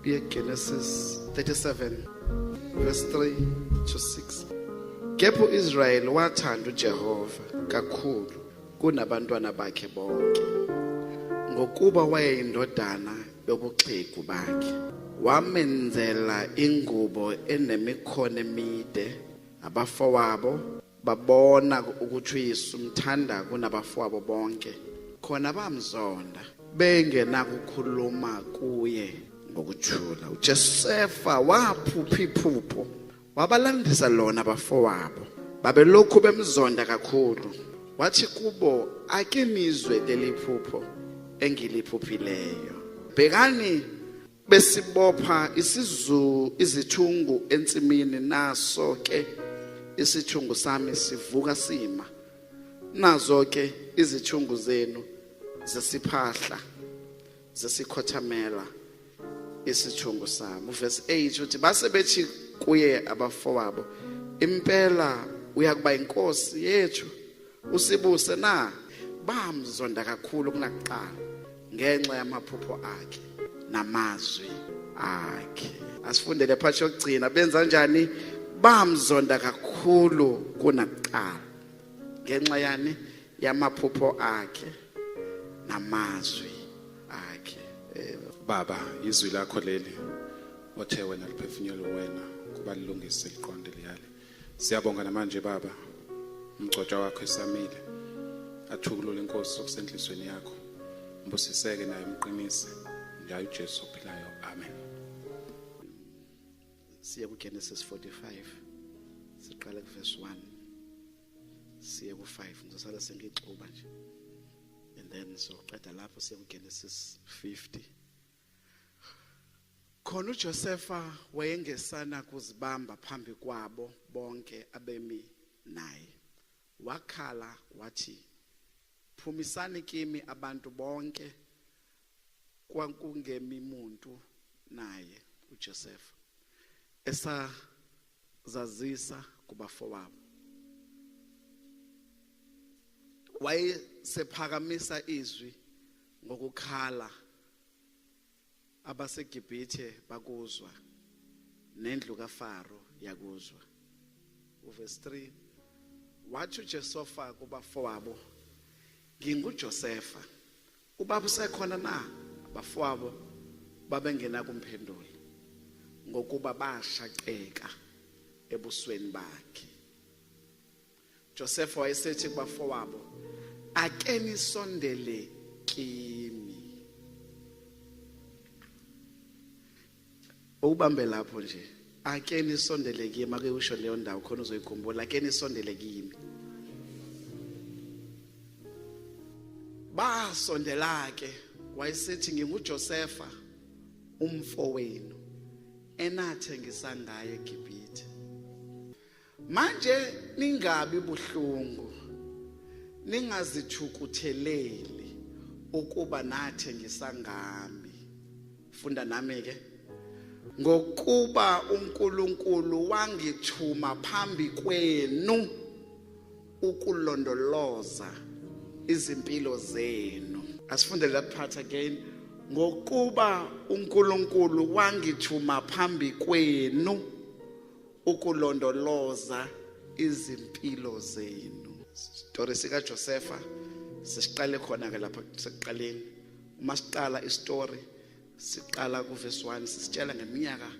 yeGenesis 37 verse 3 to 6 kepha uIsrayeli wathanda uJehova kakhulu kunabantwana bakhe bonke ngokuba wayeyindodana yobuxhegu bakhe wamenzela ingubo enemikhono emide abafowabo babona ukuthi uyesu umthanda kunabafowabo bonke khona bamzonda bengenakukhuluma kuye ngokuthula uJosefa waphupha iphupho wabalandisa lona abafowabo babelokhu bemzonda kakhulu wathi kubo ake nizwe leli phupho engiliphuphileyo bhekani besibopha isizu izithungu ensimini naso ke isithungu sami sivuka sima nazo ke izithungu zenu zesiphahla zesikhothamela isithungu sami verse 8 uthi base bethi kuye abafowabo impela uyakuba inkosi yethu Usibuse na bamzonda kakhulu kunakuqala ngenxa yamaphupho akhe namazwi akhe. Asifundele phathi yokugcina benza njani bamzonda kakhulu kunakuqala ngenxa yani yamaphupho akhe namazwi akhe. Eh, Baba, izwi lakho leli othe wena liphefumula wena kubalungise liqonde liyale. Siyabonga namanje baba. Umgcotshwa wakho esamile. Athukulule inkosi okusenhlizweni yakho. Mbusiseke naye umqinise. Ngayo uJesu ophilayo. Amen. Siya ku Genesis 45. Siqala ku verse 1. Siya ku 5. Ngizosala sengixuba nje. And then so qeda lapho siya ku Genesis 50. Khona uJosefa wayengesana kuzibamba phambi kwabo bonke abemi naye. Wakhala wathi, "Phumisani kimi abantu bonke kwakungemi muntu naye uJosefa." Esazazisa kubafowabo. Wayesephakamisa izwi ngokukhala abaseGibhithe bakuzwa nendlu kaFaro yakuzwa uverse 3 wathi uJesofa kubafowabo nginguJosefa ubaba usekhona na abafowabo babengena kumphendula ngokuba bashaqeka ebusweni bakhe Josefa wayesethi kubafowabo ake nisondele kimi ubambe lapho nje ake nisondele kimi ake usho leyo ndawo khona uzoyikhumbula ake nisondele kimi basondela ke wayesethi nginguJosefa umfowenu enathe ngisangaye eGibhithe Manje ningabi buhlungu ningazithukutheleli ukuba nathe ngisangami funda nami ke ngokuba uNkulunkulu wangithuma phambi kwenu ukulondoloza izimpilo zenu asifundele that part again ngokuba uNkulunkulu wangithuma phambi kwenu ukulondoloza izimpilo zenu isitori sikaJosefa sisiqale khona ke lapha sekuqaleni uma siqala isitori siqala kuvesi 1 sisitshela ngeminyaka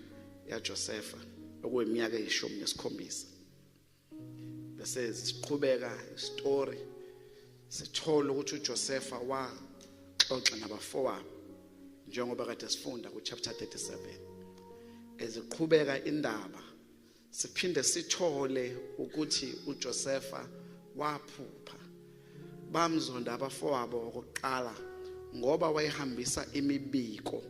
yaJosefa okuyiminyaka eyishumi nesikhombisa bese siqhubeka isitori Sithola ukuthi uJosefa waxoxa nabafowabo njengoba kade sifunda ku chapter 37 eziqhubeka indaba siphinde sithole ukuthi uJosefa waphupha bamzonda abafowabo okokuqala ngoba wayehambisa imibiko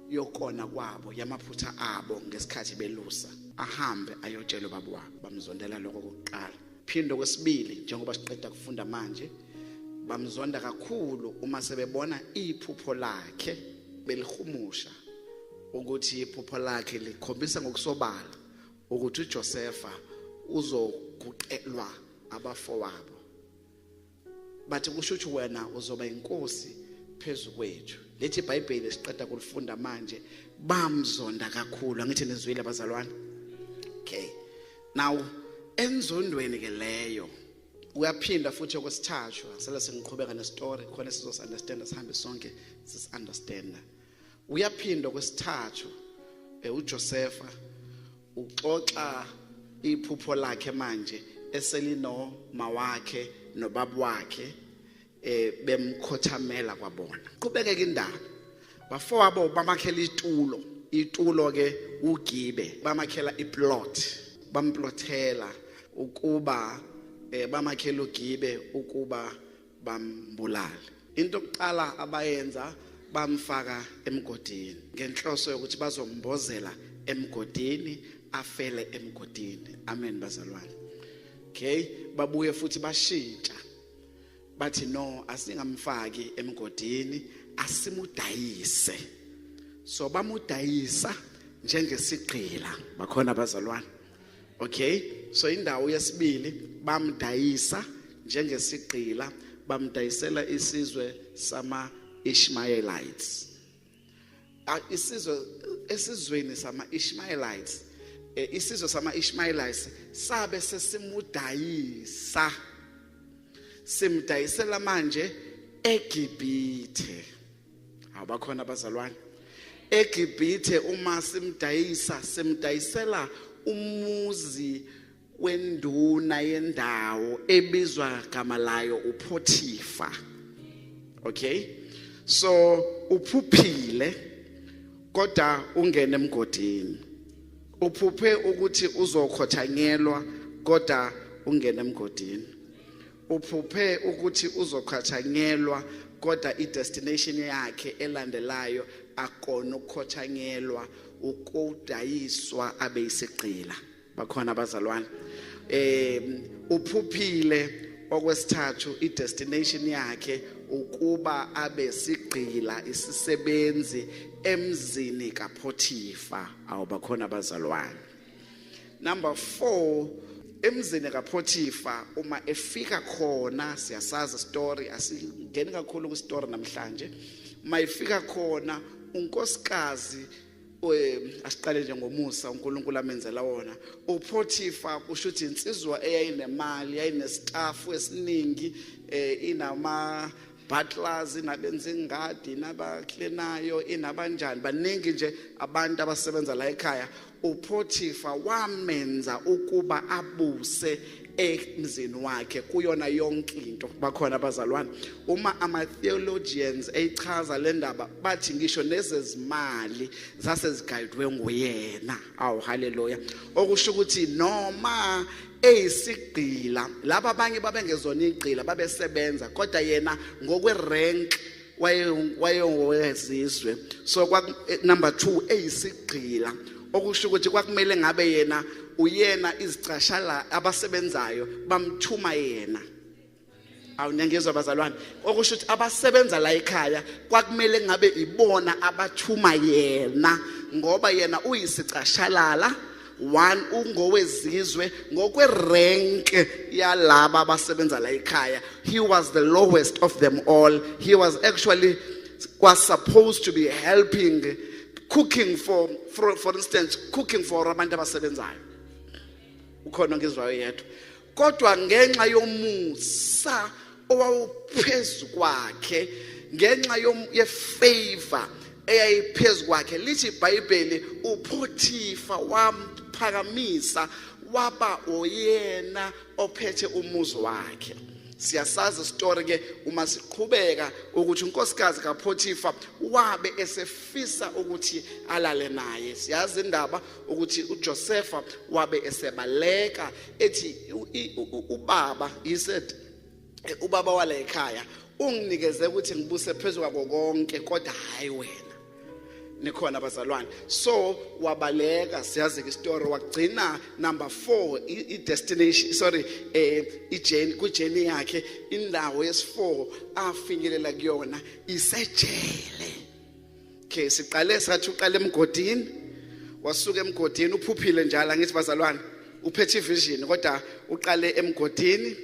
yokona kwabo yamaphutha abo ngesikhathi belusa ahambe ayotshela ubaba wabo bamzondela lokho kokuqala Phinde okwesibili njengoba siqeda kufunda manje bamzonda kakhulu uma sebebona iphupho lakhe belihumusha ukuthi iphupho lakhe likhombisa ngokusobala ukuthi uJosefa uzoguqelwa abafowabo bathi kusho ukuthi wena uzoba inkosi phezu kwethu lethi ibhayibheli siqeda kulifunda manje bamzonda kakhulu angithi nizwile abazalwane okay now enzondweni ke leyo uyaphinda futhi okwesithathu sele sengiqhubeka nestory khona sizosunderstanda sihambe sonke sisunderstanda uyaphindwa kwesithathu eh, uJosefa uxoxa iphupho lakhe manje eselino mawakhe nobabu wakhe eh bemkhothamela kwabona qhubekeke indaba bafowabo bamakhela itulo itulo ke ugibe bamakhela iplot bamplothela ukuba eh bamakhela ugibe ukuba bambulale into okuqala abayenza bamfaka emgodini ngenhloso yokuthi bazombozela emgodini afele emgodini amen bazalwane okay babuye futhi bashintsha bathi no asingamfaki emgodini asimudayise so bamudayisa njengesigqila bakhona bazalwane Okay, so indawo yesibili bamdayisa njengesigqila bamdayisela isizwe sama Ishmaelites. Isizwe esizweni sama Ishmaelites eh, isizwe sama Ishmaelites sabe sesimudayisa simdayisela manje eGibithe abakhona abazalwane egibhithe uma simdayisa simdayisela umuzi wenduna yendawo ebizwa gama layo uPhothifa okay so uphuphile kodwa ungene emgodini uphuphe ukuthi uzokhothanyelwa kodwa ungene emgodini Uphuphe ukuthi uzoqhatshanyelwa kodwa i-destination yakhe elandelayo akona ukukhotshanyelwa ukudayiswa abe isigqila bakhona abazalwane eh uphuphile okwesithathu i-destination yakhe ukuba abe sigqila isisebenzi emzini kapothifa awubakhona abazalwane number 4 emzini kaPhothifa uma efika khona siyasazi story asingeni kakhulu ku story namhlanje uma efika khona unkosikazi asiqale nje ngomusa uNkulunkulu amenzela wona uPhothifa kusho ukuthi insizwa eyayinemali yayinestaff esiningi eh, inama butlers inabenza ingadi nabaklenayo inabanjani baningi nje abantu abasebenza la ekhaya upothifa wamenza ukuba abuse emzini wakhe kuyona yonke into bakhona abazalwane uma ama theologians eyichaza le ndaba bathi ngisho nezezimali zasezigayidwe nguyena awu haleluya okusho ukuthi noma eyisigqila laba abanye babengezona igqila babesebenza kodwa yena ngokwerank wayewezizwe so eh, number 2 eyisigqila okusho ukuthi kwakumele ngabe yena uyena izicashala abasebenzayo bamthuma yena awu niyangizwa bazalwane okusho ukuthi abasebenza la ekhaya kwakumele ngabe ibona abathuma yena ngoba yena uyisicashalala one ungowezizwe ngokwerenke yalaba abasebenza la ekhaya he was the lowest of them all he was actually was supposed to be helping cooking for for, for instance cooking for abantu abasebenzayo ukhona ngizwayo yedwa kodwa ngenxa yomusa owawuphezu kwakhe ngenxa yefavor eyayiphezu kwakhe lithi ibhayibheli uphothifa wamphakamisa waba oyena ophethe umuzi wakhe siyasazi isitori ke uma siqhubeka ukuthi unkosikazi kaPothifa wabe esefisa ukuthi alale naye siyazi indaba ukuthi uJosefa wabe esebaleka ethi ubaba he said eh, ubaba wala ekhaya unginikeze ukuthi ngibuse phezulu kwako konke kodwa hayi wena nikhona abazalwane so wabaleka siyazi ke story wagcina number 4 i destination sorry eh i journey ku journey yakhe indawo yes4 afinyelela kuyona isejele Okay siqale sathi uqale emgodini wasuka emgodini uphuphile njalo ngithi bazalwane uphethe ivision kodwa uqale emgodini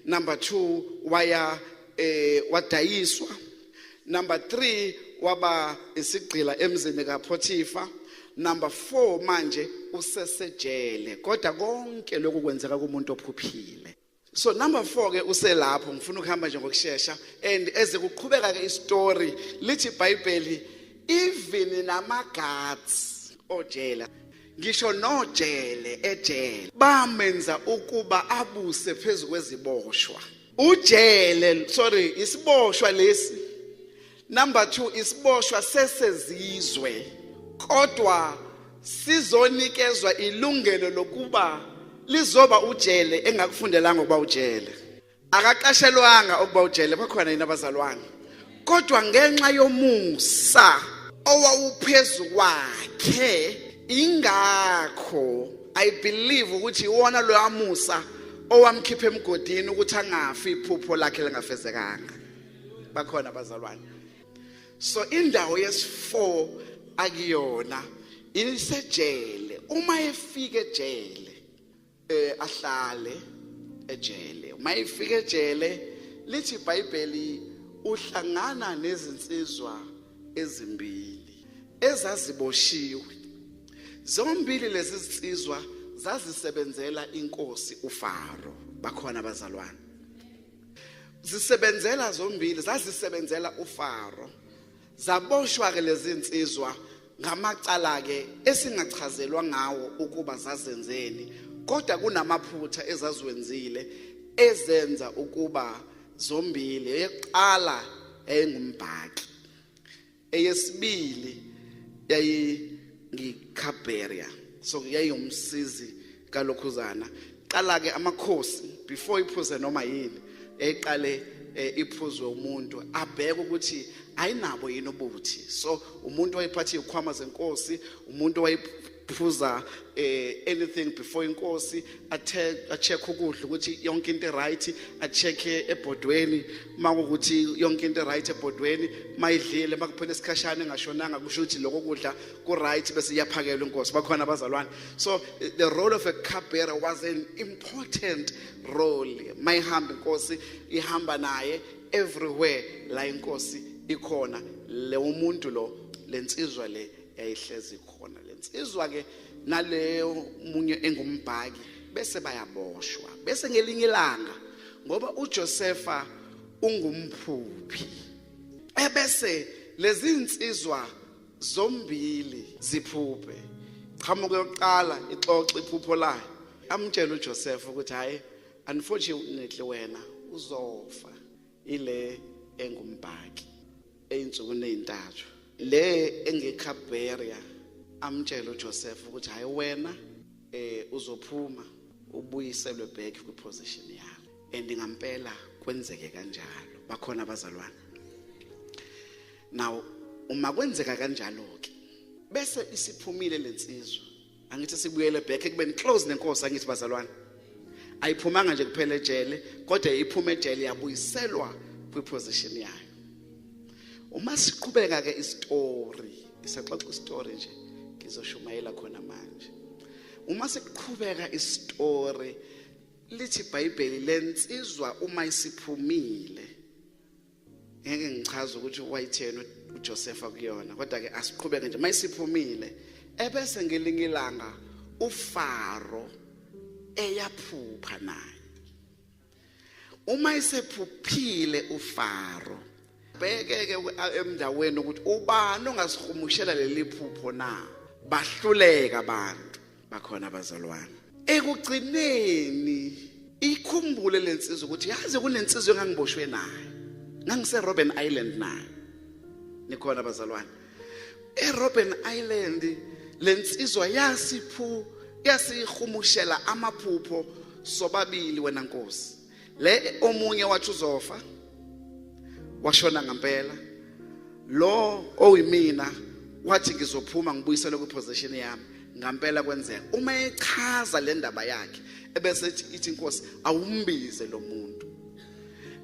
number 2 waya eh wadayiswa number 3 waba isigqila emzini kaPothifa number 4 manje usesejele kodwa konke lokhu kwenzeka kumuntu ophuphile so number 4 ke uselapho ngifuna ukuhamba nje ngokusheshsha and eze kuqhubeka ke istory lithi iBhayibheli even nama guards ojela ngisho nojele ejele bamenza ukuba abuse phezulu kweziboshwa ujele sorry isiboshwa lesi Number 2 isiboshwa sesezizwe kodwa sizonikezwa ilungelo lokuba lizoba ujele engakufundelanga ukuba ujele akaqashelwanga ukuba ujele bakhona yini abazalwane kodwa ngenxa yomusa owawuphezu kwakhe ingakho i believe ukuthi iwona loyamusa owamkhipha emgodini ukuthi angafi iphupho lakhe lingafezekanga bakhona abazalwane so indawo yesi4 akuyona isejele uma efika ejele eh ahlale ejele uma efika ejele lithi iBhayibheli uhlangana nezinsizwa ezimbili ezaziboshiwe zombili lezi zinsizwa zazisebenzela inkosi uFaro bakhona abazalwane zisebenzela zombili zazisebenzela uFaro zaboshwa ke lezi nsizwa ngamacala ke esingachazelwa ngawo ukuba zazenzeni kodwa kunamaphutha ezaziwenzile ezenza ukuba zombili eyokuqala eyingumbhaki eyesibili yayingikhaberia so yayingumsizi kalokhuzana qala ke amakhosi before iphuze noma yini eqale eh, iphuzwe umuntu abheke ukuthi ayinabo yini ubuthi so umuntu wayephatha izikhwama zenkosi umuntu phuza eh anything before inkosi athe acheck ukudla ukuthi yonke into right acheck ebhodweni makukuthi yonke into right ebhodweni mayidlile makuphela isikhashana engashonanga kusho ukuthi lokho kudla ku right bese iyaphakelwa inkosi bakhona abazalwane so the role of a cupbearer was an important role mayihamba inkosi ihamba naye everywhere la inkosi ikhona le umuntu lo lensizwa le yayihlezi khona lensizwa ke naleyo munye engumbhaki bese bayaboshwa bese ngelinye ilanga ngoba uJosefa ungumphuphi ebese lezi insizwa zombili ziphuphe qhamuke yokuqala ixoxe iphupho layo amtshela uJosefa ukuthi hayi unfortunately wena uzofa ile engumbhaki eyinsukwini ezintathu le engekhabheria amtshela uJoseph ukuthi hayi wena eh uzophuma ubuyiselwe back kwi position yakho and ngampela kwenzeke kanjalo bakhona abazalwane now uma kwenzeka kanjalo ke bese isiphumile lensizwa angithi sibuyele back ekubeni close nenkosi angithi bazalwane ayiphumanga nje kuphela ejele kodwa iphuma ejele yabuyiselwa kwiposition yayo uma siqhubeka ke istory isaxoxa istory nje ngizoshumayela khona manje uma siqhubeka istory lithi iBhayibheli lensizwa uma isiphumile ngeke ngichaze ukuthi wayitheni uJosefa kuyona kodwa ke asiqhubeke nje mayisiphumile ebese ngelinye ilanga uFaro eyaphupha naye uma isephuphile uFaro bhekeke emndaweni ukuthi ubani ongasihumushela leli phupho na bahluleka abantu bakhona abazalwane ekugcineni ikhumbule lensizwa ukuthi yazi kunensizwa engangiboshwe nayo ngangise Robben Island nayo nikhona abazalwane eRobben Island lensizwa yasiphu yasihumushela amaphupho sobabili wena nkosi le omunye wathi uzofa washona ngempela lo oyimina wathi ngizophuma ngibuyisele kwiposition yami ngempela kwenzeka uma echaza le ndaba yakhe ebese ithi inkosi awumbize lo muntu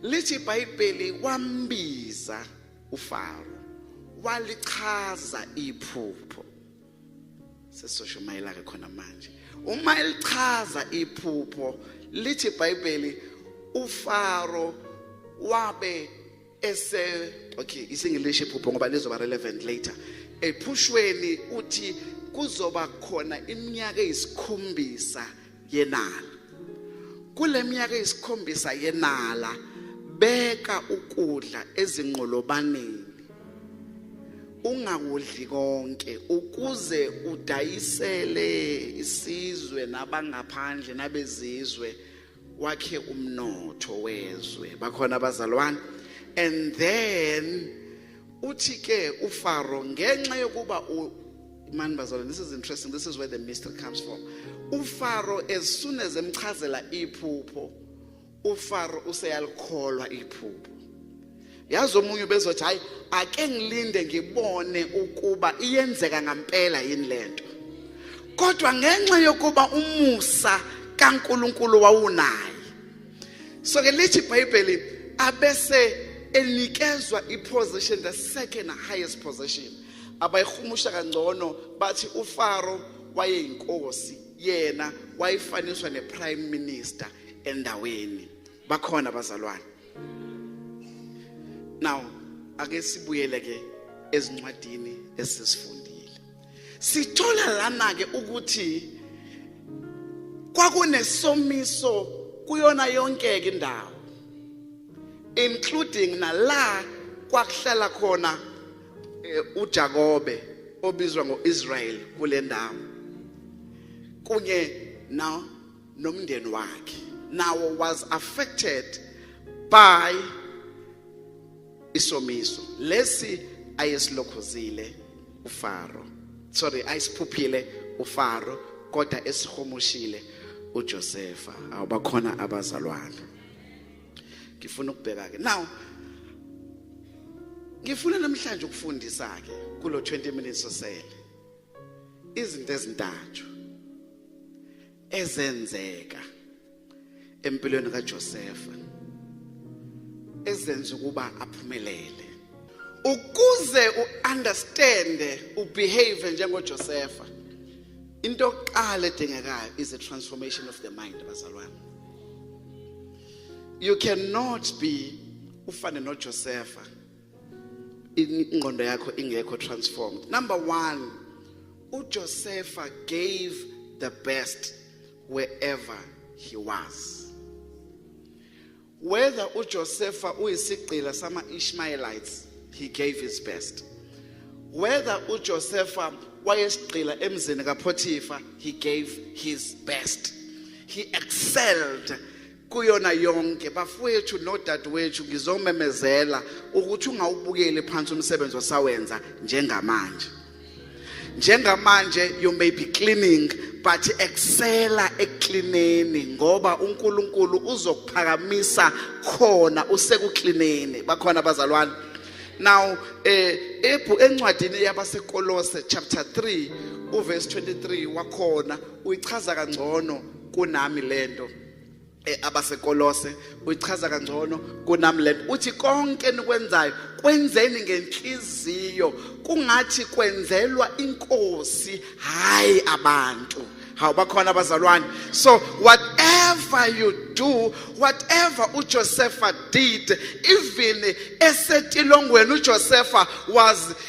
lithi ibhayibheli wambiza ufaro walichaza iphupho sesosho mayelake khona manje uma elichaza iphupho lithi iBhayibheli uFaro wabe ese okay isinglish iphupho ngoba lizoba relevant later ephushweni uthi kuzoba khona iminyaka eyisikhombisa yenala kuleminyaka eyisikhombisa yenala beka ukudla ezinqolobaneni ungakudli konke ukuze udayisele isizwe nabangaphandle nabezizwe wakhe umnotho wezwe bakhona abazalwane and then uthi ke uFaro ngenxa yokuba man bazalwane this is interesting this is where the mystery comes from uFaro as soon as emchazela iphupho uFaro useyalikholwa iphupho yazi omunye ubezothi hayi ake ngilinde ngibone ukuba iyenzeka ngampela yini lento kodwa ngenxa yokuba umusa kaNkuluNkulu wawunayo so ke lithi ibhayibheli abese enikezwa iposition the second highest position abayihumusha kangcono bathi ufaro wayeyinkosi yena wayifaniswa neprime minister endaweni bakhona abazalwane now ake sibuyele ke ezincwadini esizifunda sithola lana ke ukuthi kwakunesomiso kuyona yonke ke indawo including nala kwakuhlala khona eh, uJakobe obizwa ngoIsrael kule ndawo kunye na nomndeni wakhe nawo was affected by isomiso lesi ayesilokhozile uFaro sorry ayisiphuphile uFaro kodwa esihumushile uJosefa awubakhona abazalwane ngifuna ukubheka ke now ngifuna namhlanje ukufundisa ke kulo 20 minutes osele izinto ezintathu ezenzeka empilweni kaJosefa ezenza ukuba aphumelele ukuze uunderstand ubehave njengoJosefa into yokuqala edingekayo is a transformation of the mind bazalwane you cannot be ufane noJosefa ingqondo yakho ingekho transformed number 1 uJosefa gave the best wherever he was. Whether uJosefa uyisigqila sama-Ishmaelites, he gave his best. Whether uJosefa wayesigqila emzini kaPotifa, he gave his best. He excelled kuyona yonke bafowethu nodadewethu ngizomemezela ukuthi ungawubukeli phansi umsebenzi osawenza njengamanje njengamanje you may be cleaning but excela eklineni ngoba uNkulunkulu uzokuphakamisa khona usekuklineni bakhona abazalwane now eh ebhu encwadini yabasekolose chapter 3 uverse 23 wakhona uyichaza kangcono kunami lento eh, abasekolose uyichaza kangcono kunami lento uthi konke enikwenzayo kwenzeni ngenhliziyo kungathi kwenzelwa inkosi hayi abantu hawu bakhona abazalwane so whatever you do whatever uJosepha did even esetilongweni uJosepha was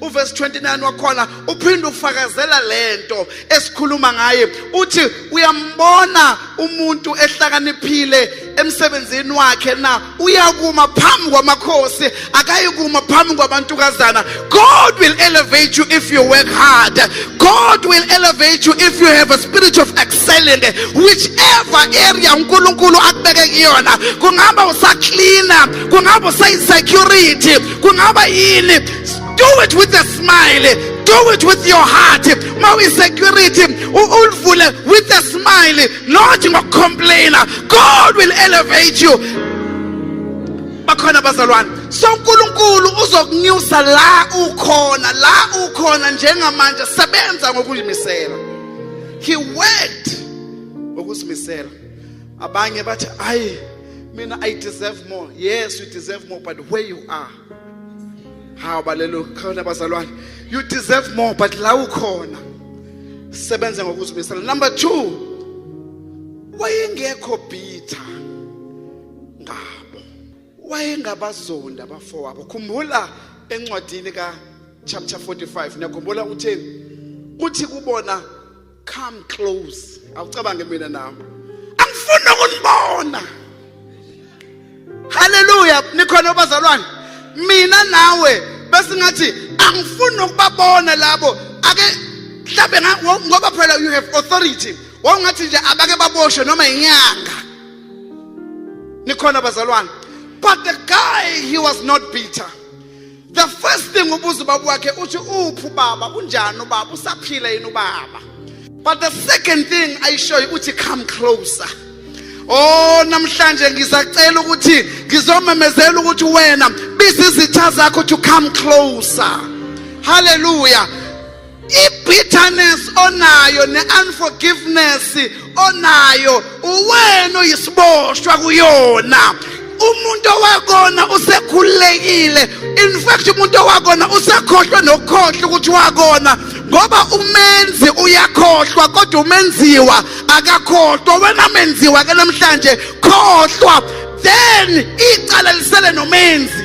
uverse 29 wakhona uphinde ufakazela lento esikhuluma ngaye uthi uyambona umuntu ehlakaniphile emsebenzini wakhe na uyakuma phambi kwamakhosi akayikuma phambi kwabantukazana god will elevate you if you work hard god will elevate you if you have a spirit of excelling whichever area unkulunkulu akubeke kuyona kungaba usaklina kungaba usayisecurity kungaba yini do it with a smile do it with your heart ma uyisecurity ulivule with a smile not ngokucomplaina god will elevate you bakhona bazalwane so uNkulunkulu uzokunyusa la ukhona la ukhona njengamanje sebenza ngokuzimisela he worked ngokuzimisela abanye bathi ayi mina i deserve more yes you deserve more but where you are hawu balelo khona bazalwane you deserve more but la ukhona sebenza ngokuzimisela number 2 wayengekho bitter ngabo wayengabazonda abafowabo khumbula encwadini ka chapter 45 niyakhumbula utheni kuthi kubona come close awucabange mina nami angifuni ukunibona haleluya nikhona bazalwane mina nawe bese ngathi angifuni ukubabona labo ake mhlambe ngoba phela you have authority wawungathi nje abake baboshwe noma inyanga nikhona bazalwane but the guy he was not bitter the first thing ubuza ubaba wakhe uthi uphi ubaba unjani ubaba usaphila yini ubaba but the second thing ayishoyo uthi come closer Oh namhlanje ngisacela ukuthi ngizomemezela ukuthi wena biza izitha zakho to come closer. Hallelujah. ibitterness onayo ne-unforgiveness onayo uwena oyisiboshwa kuyona umuntu owakona usekhululekile in fact umuntu owakona usekhohlwe nokukhohlwa ukuthi wakona ngoba umenzi uyakhohlwa kodwa umenziwa akakhohlwa wena menziwa ke namhlanje khohlwa then icala lisele nomenzi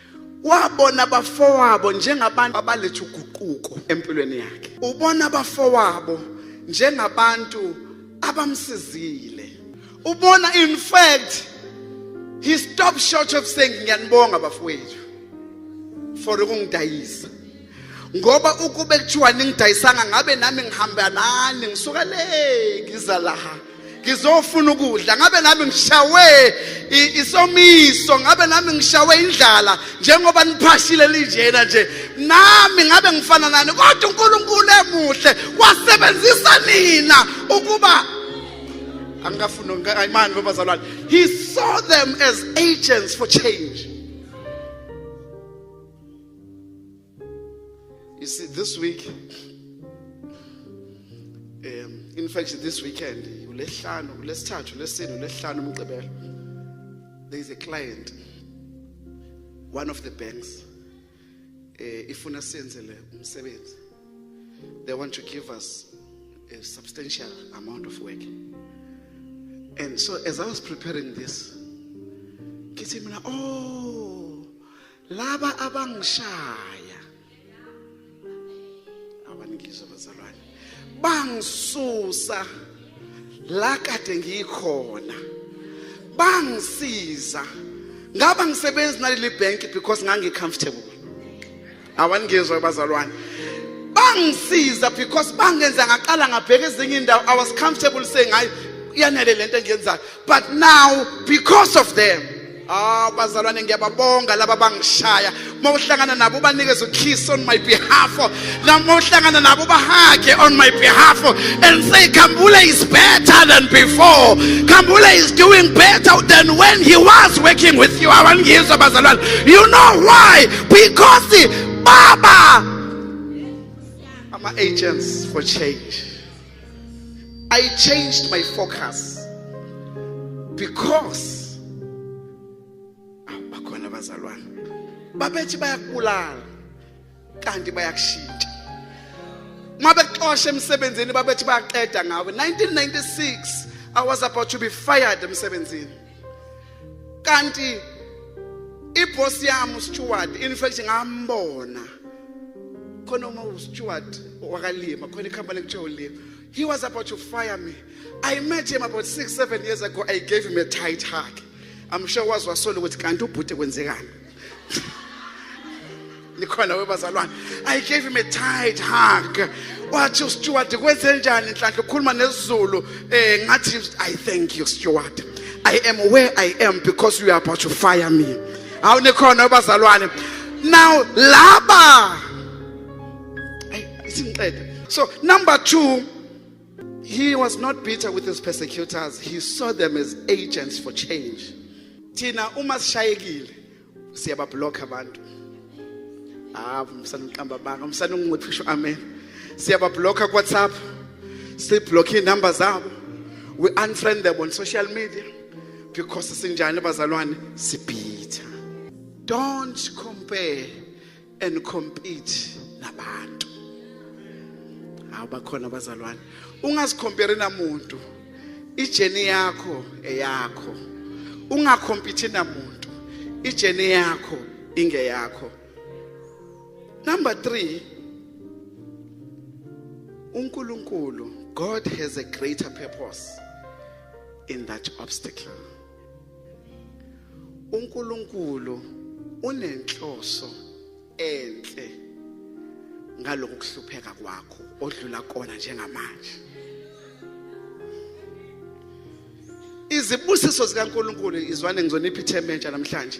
wabona abafowabo njengabantu abaletha uguquko empilweni yakhe ubona abafowabo njengabantu abamsizile ubona in fact he stopped short of saying ngiyanibonga bafowethu for ukungidayisa ngoba ukube kuthiwa ningidayisanga ngabe nami ngihamba nani ngisuka le ngiza laha ngizofuna ukudla ngabe nami ngishawe isomiso ngabe nami ngishawe indlala njengoba niphashile linjena nje nami ngabe ngifana nani kodwa uNkulunkulu emuhle wasebenzisa nina ukuba angikafuni imani lo bazalwane he saw them as agents for change You see, this week, um, in fact, this weekend, uLesihlanu, uLesithathu, uLesine, uLesihlanu, uMgqibelo, there is a client, one of the banks, uh, ifuna senzele umsebenzi. They want to give us a substantial amount of work. And so as I was preparing this, kithi mina, oh, laba abangishaya abanikizwa bazalwane bangisusa la kade ngikhona bangisiza ngaba ngisebenzi naleli bank because ngangicomfortable awaningizwa bazalwane bangisiza because bangenza ngaqala ngabheka ezinye indawo i was comfortable saying hayi yanele lento engiyenzayo but now because of them Ah bazalwane ngiyababonga laba bangishaya. Uma uhlangana nabo ubanikeze ukiss on my behalf. Noma uhlangana nabo bahage on my behalf and say Kambule is better than before. Kambule is doing better than when he was working with you. Abangizwa bazalwane. You know why? Because Baba ama agents for change. I changed my focus because ah, bakhona abazalwane babethi bayakubulala kanti bayakushintsha uma bexosha emsebenzini babethi bayaqeda ngawe 1996 I was about to be fired emsebenzini kanti iboss yami uSteward in fact ngambona khona uma uSteward wakalima khona icompany kuthiwa ulima he was about to fire me i met him about 6 7 years ago i gave him a tight hug i'm sure was wasola ukuthi kanti ubhuti kwenzekani nikhona webazalwane i gave him a tight hug wathi usteward kwenzenjani nhlanhla ukhuluma nesizulu um ngathi i thank you steward i am where i am because you are about to fire me hawu nikhona webazalwane now laba isingiqede so number two He was not bitter with his persecutors. He saw them as agents for change. Thina uma sishayekile siyabablock abantu. Ah, umsana uqamba banga, umsana ungithi usho amen. Siyabablock ku WhatsApp. Siblock inamba zabo. We unfriend them on social media because sinjani bazalwane sibhitha. Don't compare and compete nabantu hawu bakhona abazalwane ungazicompare namuntu ijeni yakho eyakho ungakhompithe namuntu ijeni yakho ingeyakho number 3 uNkulunkulu God has a greater purpose in that obstacle uNkulunkulu unenhloso enhle ngalokho kuhlupheka kwakho odlula kona njengamanje izibusiso zikaNkulunkulu izwane ngizonipha ithemba entsha namhlanje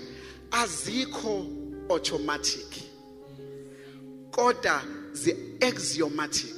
azikho automatic kodwa zi axiomatic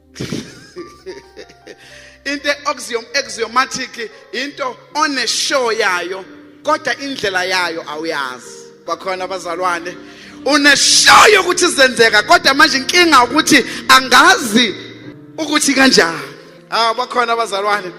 into eoxium axiomatic into one show yayo kodwa indlela yayo awuyazi bakhona abazalwane une show yokuthi zenzeka kodwa manje inkinga ukuthi angazi ukuthi kanjani ah bakhona abazalwane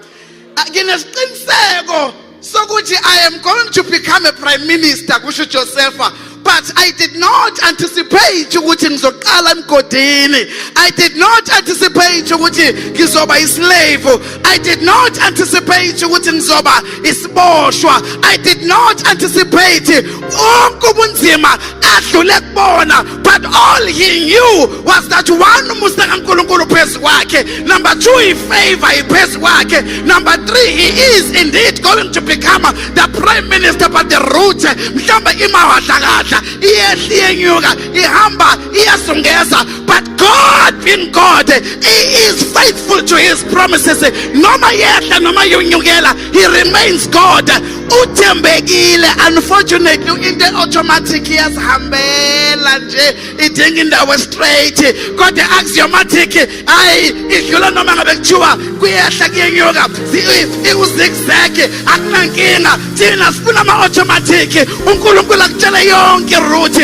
Ah, nginesiqiniseko sokuthi i am going to become a prime minister kusho ujosefa but i did not anticipate ukuthi ngizoqala emgodini i did not anticipate ukuthi ngizoba islave i did not anticipate ukuthi ngizoba isiboshwa i did not anticipate wonke ubunzima adlule kubona But all he knew was that one umusa kaNkulunkulu phezu kwakhe, number two ifavor iphezu kwakhe, number three he is indeed going to become the prime minister but the route mhlawumbe imawadlakadla iyehla iyenyuka ihamba iyasungeza but God being God he is faithful to his promises noma yehla noma yonyukela he remains God uthembekile unfortunately into automatic iyazihambela nje idinga indawo straight kodwa axiomatic hayi idlula noma ngabe kuthiwa kuyehla kuyenyuka iwuzigzag akunankinga thina sifuna ama-automatic unkulunkulu akutshele yonke iruthi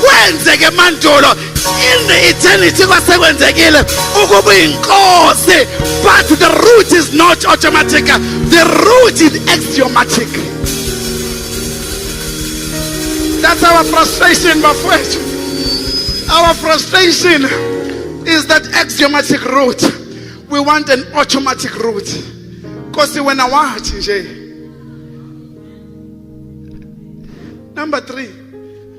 kwenzeke mandulo in the eternity kwasekwenzekile ukuba inkosi but the root is not automatic the root is axiomatic that's our frustration bafowethu our frustration is that axiomatic root we want an automatic root nkosi wena wathi nje number 3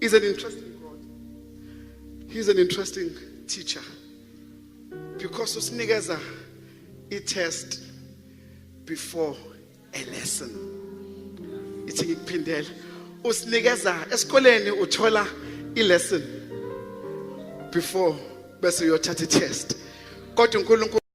He's an interesting God. He's an interesting teacher. Because usinikeza a test before a lesson. Ithi ngikuphindele. Usinikeza esikoleni uthola i lesson before bese uyothatha i test. Kodwa uNkulunkulu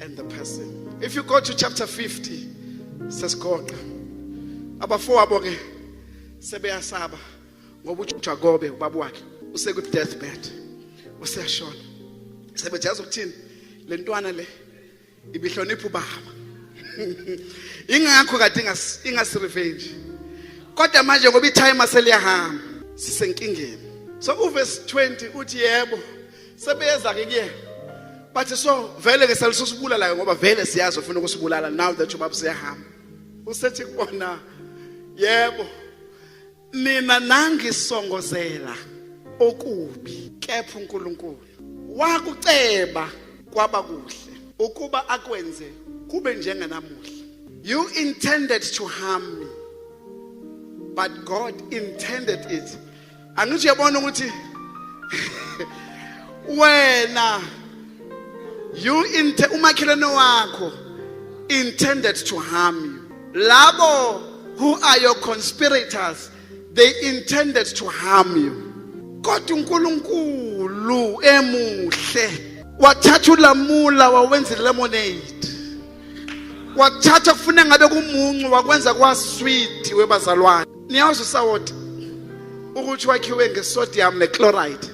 and the person if you go to chapter 50 sesigoqa abafowabo ke sebeyasaba ngoba uJuda kobe ubaba wakhe useku deathbed useyashona sebejaza ukuthini lentwana le ibihlonipha ubaba ingakho kade ingasi revenge kodwa manje ngoba itime seliyahamba sisenkingeni so uverse 20 uthi yebo sebeyeza ke kuyena bathi so vele ke selisosibulalayo ngoba vele siyazi ufuna ukusibulala now that ubaba siyahamba usethi kubona yebo nina nangisongozela okubi kepha uNkulunkulu wakuceba kwaba kuhle ukuba akwenze kube njengenamuhla you intended to harm me but God intended it angithi uyabona ukuthi wena you inte umakhelwane wakho intended to harm you labo who are your conspirators they intended to harm you kodwa uNkulunkulu emuhle wathatha ulamula wawenza lemonade wathatha kufuna ngabe kumuncu wakwenza kwasweet webazalwane niyazi usawoti ukuthi wakhiwe ngesodium nechloride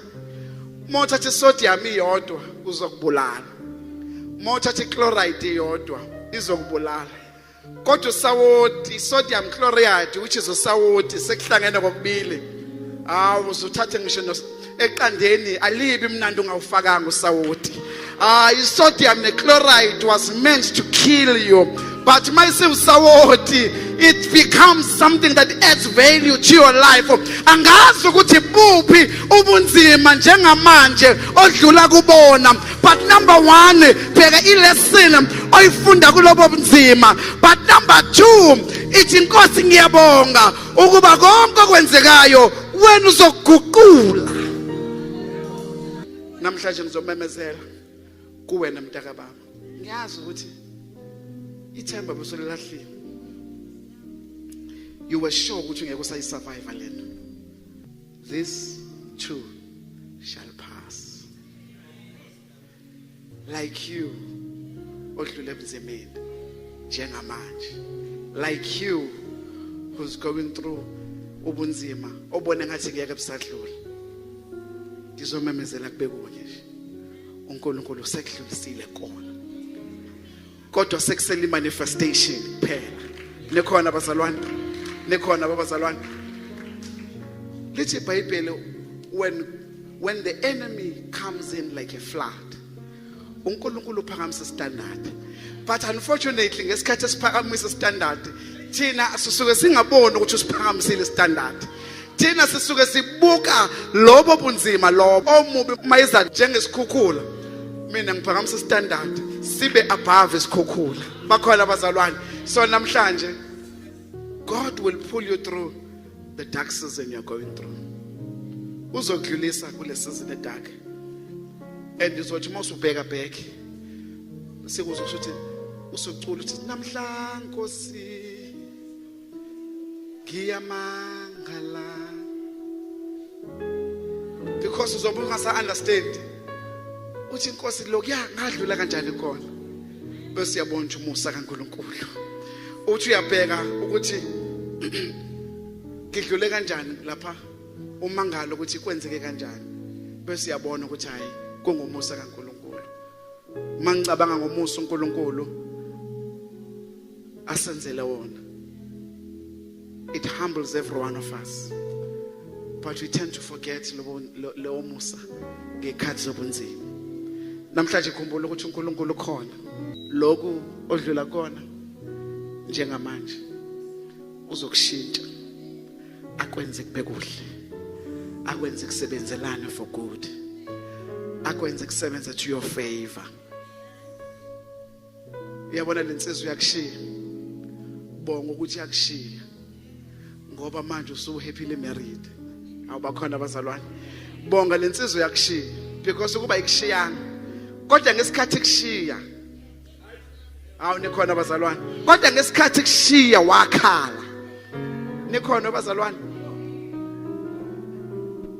uma uthatha isodium iyodwa uzokubulala uma uthatha ichloride iyodwa izokubulala kodwa usawoti sodium chloride which is usawoti sekuhlangene kokubili hawu uzuthathe ngisho eqandeni alibi mnandi ungawufakanga usawoti ah isodium nechloride was meant to kill you but mayisiwusawoti it becomes something that adds value to your life angazi ukuthi buphi ubunzima njengamanje odlula kubona but number 1 bheka ilesson oyifunda kulobo bunzima but number 2 ithi inkosi ngiyabonga ukuba konke okwenzekayo wena uzoguqula namhlanje ngizomemezela kuwena mntaka baba ngiyazi ukuthi ithemba busolelahlile you were sure ukuthi ngeke usayisurvive lento this too shall pass like you odlule emzimini njengamanje like you who's going through ubunzima obone ngathi ngeke busadlula ngizomemezela kube kunye nje uNkulunkulu usekudlulisile kona kodwa sekusele manifestation kuphela nikhona bazalwane nikhona babazalwane lithi ibhayibheli when when the enemy comes in like a flood uNkulunkulu uphakamisa standard but unfortunately ngesikhathi esiphakamisa standard thina sisuke singaboni ukuthi usiphakamisile standard thina sisuke sibuka lobo bunzima lobo omubi mayeza njengesikhukhula mina ngiphakamisa standard sibe above isikhukhula bakhona abazalwane so namhlanje God will pull you through the dark season you're going through uzokudlulisa kule season edark and uzothi uma usubheka back sikuzosho ukuthi usucula uthi namhla nkosi ngiyamangala because uzobe ungasa understand uthi inkosi lokuya ngadlula kanjani khona bese uyabona ukuthi umusa kaNkuluNkulu uthi uyabheka ukuthi ngidlule kanjani lapha umangalo ukuthi kwenzeke kanjani bese uyabona ukuthi hayi kungumusa kaNkuluNkulu mangicabanga ngomusa uNkuluNkulu asenzele wona it humbles every one of us but we tend to forget lewo musa ngekhathi zobunzima namhlanje khumbula ukuthi uNkulunkulu ukhona lokhu odlula kona njengamanje uzokushintsha akwenze kube kuhle akwenze kusebenzelana for good akwenze kusebenza to your favor uyabona lensizwa uyakushiya bonga ukuthi yakushiya ngoba manje usu happily married awubakhona abazalwane bonga lensizwa uyakushiya because ukuba ikushiyana kodwa ngesikhathi kushiya awu nikhona abazalwane kodwa ngesikhathi kushiya wakhala nikhona bazalwane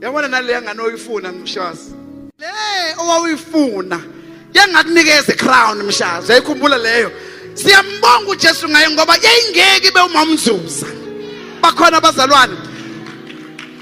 yabona naleya ngane oyifuna mshazi le owawuyifuna yangakunikeza icrown mshazi yayikhumbula leyo siyambonga uJesu ngaye ngoba yayingeke ibe umamzuza bakhona abazalwane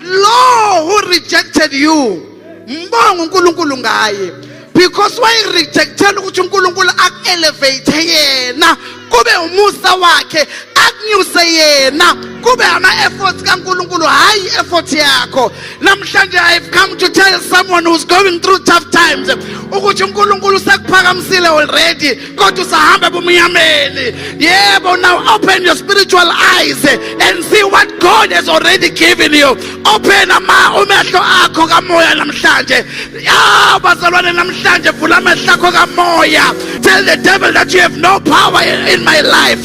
lo who rejected you ngibonga uNkulunkulu ngaye because wayirejectela ukuthi uNkulunkulu akuelevate yena kube umusa wakhe akunyuse yena kube ama-efforts kankulunkulu hhayi i-effort yakho namhlanje i've come to tell someone who's going through tough times ukuthi unkulunkulu sekuphakamisile already kodwa usahamba ebumnyameni yebo now open your spiritual eyes and see what god has already given you open ama umehlo akho kamoya namhlanje ya bazalwane namhlanje vula amehlo akho kamoya tell the devil that you have no power in my life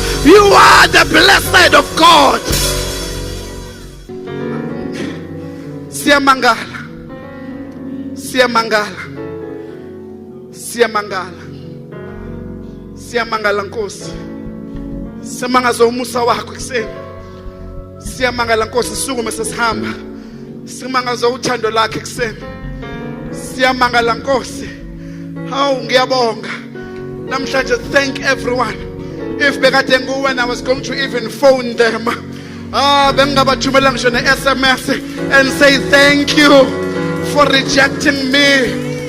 You are the blessed of God. Siyamangala. Siyamangala. Siyamangala. Siyamangala Nkosi. Siyamangaza umusa wakho ekuseni. Siyamangala Nkosi sisukume sesihamba. Simangaza uthando lakhe kuseni. Siyamangala Nkosi. Hawu ngiyabonga. Namhlanje thank everyone. If bekade nguwena I was going to even phone them. Ah bengingabathumela ngisho ne SMS and say thank you for rejecting me.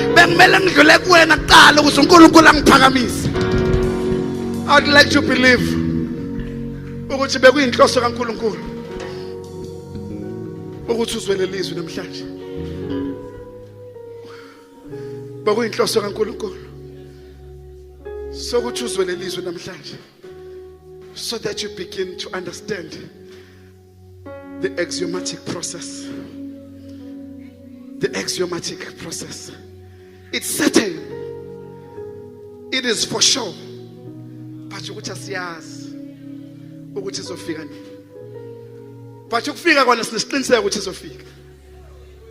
bekumele ngidlule kuwena kuqala ukuze uNkulunkulu angiphakamise I would like to believe ukuthi bekuyinhloso kaNkulunkulu ukuthi uzwe lelizwi namhlanje bekuyinhloso kaNkulunkulu sokuthi uzwe lelizwi namhlanje so that you begin to understand The axiomatic process. The axiomatic process. It's certain. It is for sure. But you ukuthi asiyazi ukuthi izofika nini. But ukufika kona sinesiqiniseko ukuthi izofika.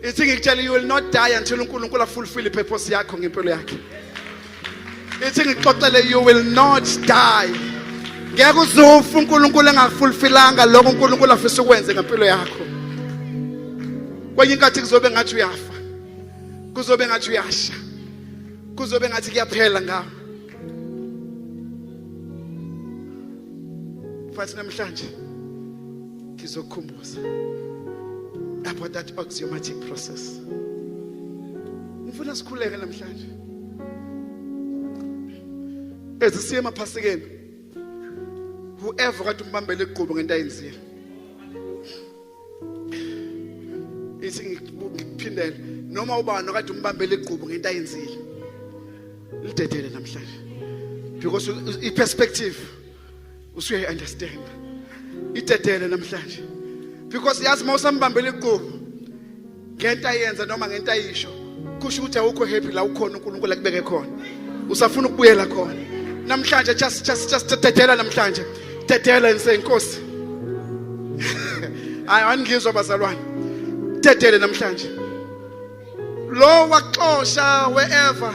ithi ngikutshela you will not die until uNkulunkulu afulfill ipurpose yakho ngempilo yakhe ithi ngixoxele you will not die ngeke uzofa uNkulunkulu engafulfilanga lokho uNkulunkulu afisa ukwenze ngempilo yakho kwenye inkathi kuzobe ngathi uyafa kuzobe ngathi uyasha kuzobe ngathi kuyaphela ngawo futhi namhlanje ngizokhumbuza about that axiomatic process ngifuna sikhuleke namhlanje ezisiye emaphasikeni whoever kade umbambele igqubu ngento ayenzile ithi ngikuphindele noma ubani okade umbambele igqubu ngento ayenzile lidedele namhlanje because i-perspective usuyayi understand idedele namhlanje because yazi uma usambambela iqubu ngento ayenza noma ngento ayisho kusho ukuthi awukho happy la ukhona uNkulunkulu akubeke khona usafuna ukubuyela khona namhlanje just just just dedela namhlanje dedela nsenkosi hayi angizwa bazalwane dedele namhlanje lo waxosha wherever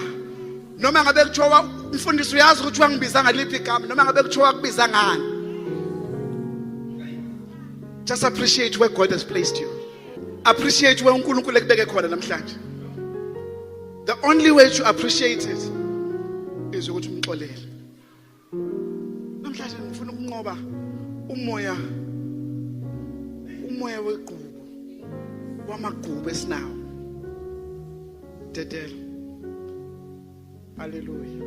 noma ngabe kuthiwa mfundisi uyazi ukuthi wangibiza ngaliphi igama noma ngabe kuthiwa wakubiza ngani just appreciate where god has placed you appreciate where unkulunkulu ekubeke khona namhlanje the only way to appreciate it is ukuthi umxolele namhlanje ngifuna ukunqoba umoya umoya wegqubu wamagqubu esinawo dedela haleluya